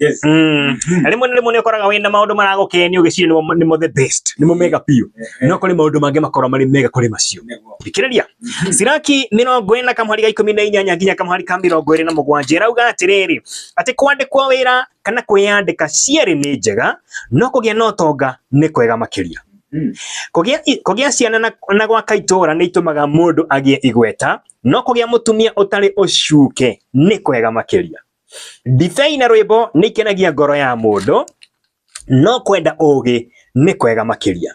Yes. Mm. Na rĩmwe na rĩmwe nĩ ũkoraga wĩna maũndũ maragũkenia ũgĩciria nĩmo nĩmo the best nĩmo mega biũ no kũrĩ maũndũ mangĩ makorwo marĩ mega kũrĩ macio Nĩguo. thikĩrĩria siraki mĩrongo ĩrĩ na kamũhari ga ikũmi na inyanya nginya kamũhari ka mĩrongo ĩrĩ na mũgwanja ĩrauga atĩrĩrĩ atĩ kwandĩkwo wĩra kana kwĩyandĩka cierĩ nĩ njega no kũgĩa na ũtonga nĩ kwega makĩria Mm. kũgĩa i- kũgĩa ciana na, na gwaka itũũra nĩ itũmaga mũndũ agĩe igweta no kũgĩa mũtumia ũtarĩ ũcuke nĩ kwega makĩria Ndibei na rwĩmbo nĩ ikenagia ngoro ya mũndũ, no kwenda ũũgĩ nĩ kwega makĩria.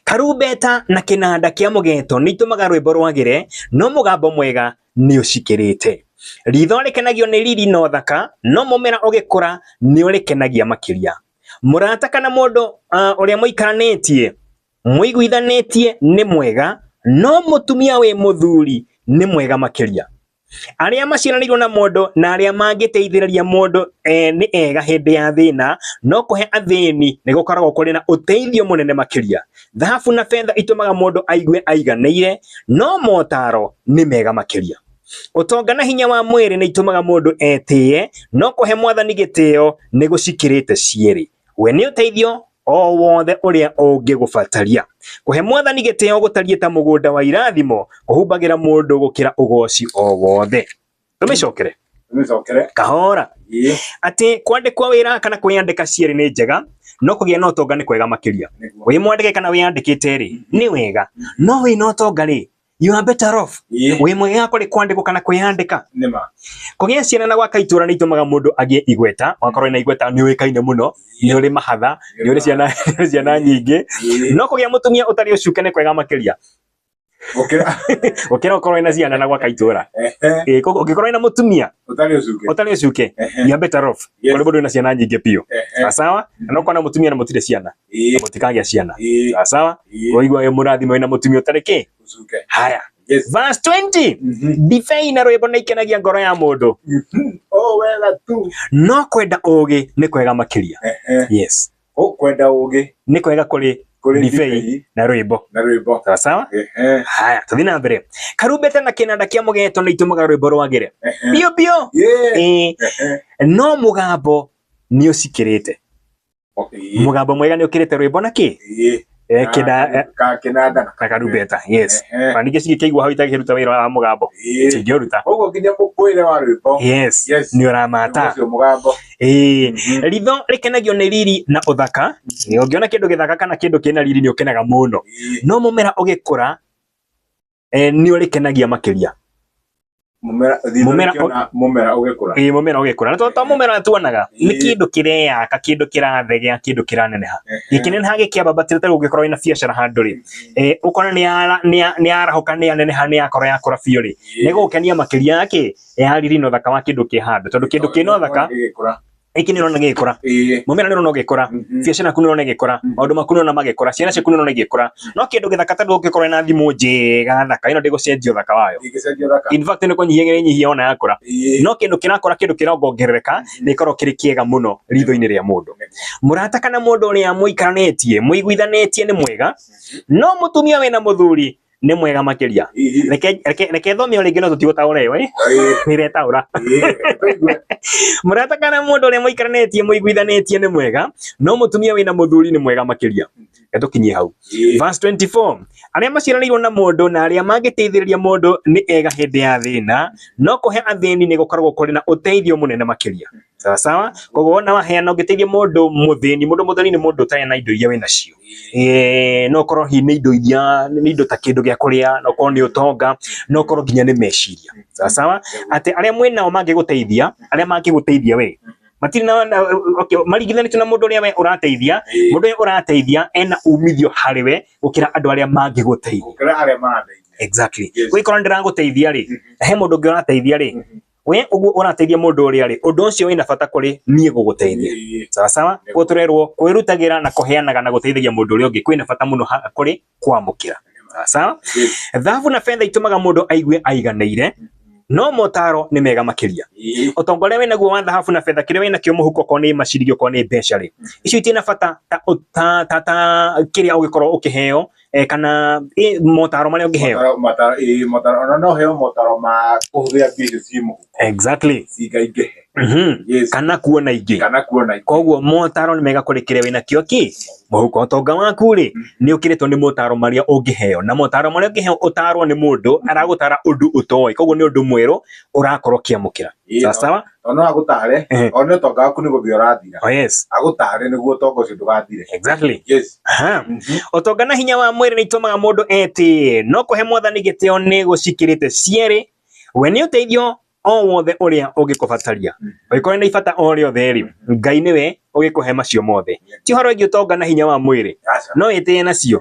Karumbeta na kĩnanda kĩa mũgeeto nĩ itũmaga rwĩmbo rwagĩre, no mũgambo mwega nĩ ũcikĩrĩte. Riitho rĩkenagio nĩ riri na ũthaka, no mũmera ũgĩkũra nĩ ũrĩkenagia makĩria. Mũrata kana mũndũ ũrĩa mũikaranĩtie mũiguithanĩtie nĩ mwega, no mũtumia wĩ mũthuri nĩ mwega makĩria. Arĩa maciaranĩirwo na mũndũ na arĩa mangĩteithĩrĩria mũndũ e, nĩ ega hĩndĩ ya thĩna, no kũhe athĩni nĩ gũkoragwo kũrĩ na ũteithio mũnene makĩria. Thahabu na betha itũmaga mũndũ aigue aiganĩire, no motaro nĩ mega makĩria. Ũtonga na hinya wa mwĩrĩ nĩ itũmaga mũndũ etĩye, no kũhe mwathani gĩtĩo nĩ gũcikĩrĩte cierĩ. We nĩ ũteithio o wothe ũrĩa ũngĩgũbataria. Kũhe mwathani gĩtĩo gũtariĩ ta mũgũnda wa irathimo kũhumbagĩra mũndũ gũkĩra ũgoci o wothe. Tũmĩcokere Tũmĩcokere. kahora Ĩĩ. atĩ kwandĩkwo wĩra kana kwĩyandĩka cierĩ nĩ njega no kũgĩa na ũtonga nĩ kwega makĩria Nĩguo. wĩ mwandĩke kana wĩyandĩkĩte rĩ nĩ wega no wĩ na ũtonga rĩ you are better off Ĩĩ. wĩ mwega kũrĩ kwandĩkwo kana kwĩyandĩka Nĩ ma. kũgĩa ciana na gwaka itũra nĩ itũmaga mũndũ agĩe igweta wakorwo na igweta nĩ ũĩkaine mũno nĩ ũrĩ mahatha nĩ ũrĩ ciana nĩ ũrĩ ciana nyingĩ Ĩĩ. no kũgĩa mũtumia ũtarĩ ũcuke nĩ kwega makĩria Gũkĩra. gũkĩra ũkorwo na ciana na gwaka itũra Ehe. Ĩĩ, koguo ũngĩkorwo na mũtumia Ũtarĩ ũcuke. ũtarĩ ũcuke Ehe. you are better off Yes. kũrĩ mũndũ wĩna ciana nyingĩ biũ Ehe. sawa na ũkona mũtumia na mũtirĩ ciana Ĩĩ. mũtikagĩa ciana Ĩĩ. sawa sawa Ĩĩ. waigua wĩ mũrathime wĩna mũtumia ũtarĩ kĩ Ũcuke. haya Yes. verse 20 Mhm. ndibei na rwĩmbo nĩ ikenagia ngoro ya mũndũ Mhm. O wega tu. no kwenda ũũgĩ nĩ kwega makĩria Ehe. yes Ũkwenda ũũgĩ nĩ kwega kũrĩ kũrĩ ndibei ndibei na rwĩmbo na rwĩmbo. sawa sawa Ehe. haya tũthiĩ na mbere karumbeta na kĩnanda kĩa mũgeeto nĩ itũmaga rwĩmbo rwagĩre Ehe. biũ biũ Yee. Ĩĩ. Ehe. no mũgambo nĩ ũcikĩrĩte Ĩĩ, mugambo mwega ni ukirite rwimbo na ki ĩĩ. Eh, kina eh, Ka- kĩnanda na na karumbeta yes Ehe. na ningĩ cingĩkĩigua hau itagĩkĩruta wĩra wa mũgambo Ĩĩ. cingĩũruta Koguo nginya mũkũĩre wa rwĩmbo yes Yes. nĩ ũramata ũcio mũgambo Ĩĩ. Mhm. ritho rĩkenagio nĩ riri na ũthaka ũngĩona kĩndũ gĩthaka kana kĩndũ kĩna riri nĩ ũkenaga mũno Ĩĩ. no mũmera ũgĩkũra eh, nĩ ũrĩkenagia makĩria mumera mumera mumera ugikura ii mumera ugikura na to mumera tuonaga ni kindu kireyaka kindu kirathegea kindu kiraneneha gikineneha gikiamba batire ta ugikorwo ina biashara handu ri eh ukona ni ara ni arahuka ni aneneha ni akora ya kura biu ri ni gukenia makiria yake ya riri no thaka wa kindu ki handu tondu kindu ki no thaka Gĩkĩ nĩ ũrona gĩgĩkũra, ĩĩ mũmera nĩ ũrona ũgĩkũra, Mhm. biacara yaku nĩ ũrona ĩgĩkũra, Mhm. maũndũ maku nĩ ũrona magĩkũra, ciana ciaku nĩ ũrona igĩkũra. No kĩndũ gĩthaka ta ndũngĩkorwo ũkorwo na thimũ njega thaka, ĩno ndĩgũcenjia ũthaka wayo. Ndĩngĩcenjia ũthaka. In fact nĩ kũnyihia ĩrĩnyihia ona yakũra. Ĩĩ. No kĩndũ kĩrakũra kĩndũ kĩrongongerereka nĩ gĩkoragwo kĩrĩ kĩega mũno ritho-inĩ rĩa mũndũ. Mũrata kana mũndũ ũrĩa mũikaranĩtie, mũiguithanĩtie nĩ mwega, no mũtumia wĩna mũthuri nĩ mwega makiria Ĩĩ. reke reke reke thome o rĩngĩ no tũtigũtaũra ĩyo ĩ Ĩĩ. nĩretaũra Ĩĩ. Tũigue. mũrata kana mũndũ ũrĩa mũikaranĩtie mũiguithanĩtie nĩ mwega no mũtumia wĩna mũthuri nĩ mwega makĩria etũkinyie hau Ĩĩ. Verse 24 arĩa maciaranĩirwo na mũndũ na arĩa mangĩteithĩrĩria mũndũ nĩ ega hĩndĩ ya thĩna no kũhe athĩni nĩ gũkoragwo kũrĩ na ũteithio mũnene makĩria sawa sawa koguo wona waheana ũngĩteithia mũndũ mũthĩni mũndũ mũthĩni nĩ mũndũ ũtarĩ na indo iria wĩ nacio eh, no korwo hihi nĩ indo iria nĩ indo ta kĩndũ gĩa kũrĩa no korwo nĩ ũtonga no korwo nginya nĩ meciria sawa sawa atĩ arĩa mwĩ nao mangĩgũteithia arĩa mangĩgũteithia we matirĩ na- na okay, maringithanĩtio na mũndũ ũrĩa we ũrateithia mũndũ ũrĩa ũrateithia ena umithio harĩ we gũkĩra andũ arĩa mangĩgũteithia gũkĩra arĩa marateithia exactly Yes. wĩkora nĩ ndĩragũteithia rĩ he mũndũ ũngĩ ũrateithia rĩ we uguo ũrateithia mũndũ ũrĩa rĩ ũndũ ũcio wĩna bata kũrĩ niĩ gũgũteithia Ĩĩ. sawa sawa Nĩguo. guo tũrerwo kwĩrutagĩra na kũheanaga na gũteithagia mũndũ ũrĩa ũngĩ kwĩna bata mũno ha- kũrĩ kwamũkĩra sawa sawa Ĩĩ. thahabu na betha itũmaga mũndũ aigue aiganĩire no motaro nĩ mega makĩria Ĩĩ. ũtonga ũrĩa wĩnaguo wa thahabu na betha kĩrĩa wĩnakĩo mũhuko okorwo nĩ maciringi okorwo nĩ mbeca rĩ icio itirĩ na bata ta, ta, ta, ta kĩrĩa ũngĩkorwo ũkĩheo eh, kana eh, motaro marĩa ũngĩheo Motaro- motaro- ĩĩ, motaro ona no heo motaro ma kũhũthĩra mbia icio ciĩ mũhuko exactly cingaingĩhe Mhm. Yes. kana kuona ingĩ kana kuona ingĩ. koguo motaro nĩ mega kũrĩ kĩrĩa wĩna kĩo kĩ mũhuko ũtonga waku rĩ nĩ ũkĩrĩtwo nĩ motaro marĩa ũngĩheo na motaro marĩa ũngĩheo ũtarwo nĩ mũndũ aragũtara ũndũ ũtoĩ koguo nĩ ũndũ mwerũ ũrakorwo ũkĩamũkĩra Ĩĩ, sawa sawa tondũ no agũtare Ehe. one ũtonga waku nĩ gũthiĩ ũrathira oh yes agũtare nĩguo ũtonga ũcio ndũgathire exactly yes Aha. Mhm. ũtonga na hinya wa mwĩrĩ nĩ itũmaga mũndũ etĩĩe no kũhe mwathani gĩtĩo nĩ gũcikĩrĩte cierĩ we nĩ ũteithio o wothe ũrĩa ũngĩkũbataria ũngĩkorwo nĩ ibata o rĩothe rĩ ngai nĩwe ũgĩkũhe macio mothe ti ũhoro wĩgiĩ ũtonga na hinya wa mwĩrĩ Aca. no ĩtĩĩe nacio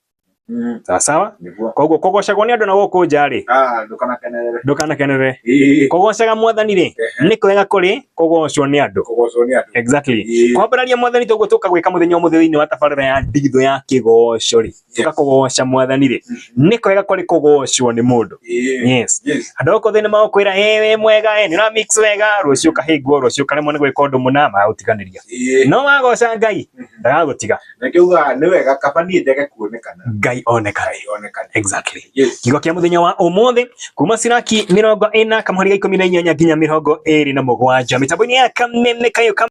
Mm. sawa sawa Nĩguo. koguo kũgocagwo nĩ andũ na gũkũ nja rĩ Ah, ndũkanakenerere. ndũkanakenerere Ĩĩ. kũgocaga mwathani rĩ nĩ kwega kũrĩ kũgocwo nĩ andũ Kũgocwo nĩ andũ. exactly Ĩĩ. kwambararia mwathani toguo tũka gwĩka mũthenya ũmũthĩ thĩinĩ wa tabarĩra ya ndigitho ya kĩgoco rĩ tũka kũgoca mwathani rĩ nĩ kwega kũrĩ kũgocwo nĩ mũndũ Ĩĩ. yes Yes. andå gå thä nä magåkwä wä mwega ä nä ra mix wega rå cio kahä ngwo rå cio karemwo nä gwä ka å ndå må na magagå tiganä ria Ĩĩ. no wagoca ngai ndagagå tiga na ngĩuga nĩ wega kaba niĩ njage kuonekana ngai onekane Ngai onekane exactly yes kiugo kĩa mũthenya wa ũmũthĩ kuma ciraki mĩrongo ĩna kamũhari ga ikũmi na inyanya nginya mĩrongo ĩrĩ na mũgwanja mĩtambo-inĩ ya kameme kayo kam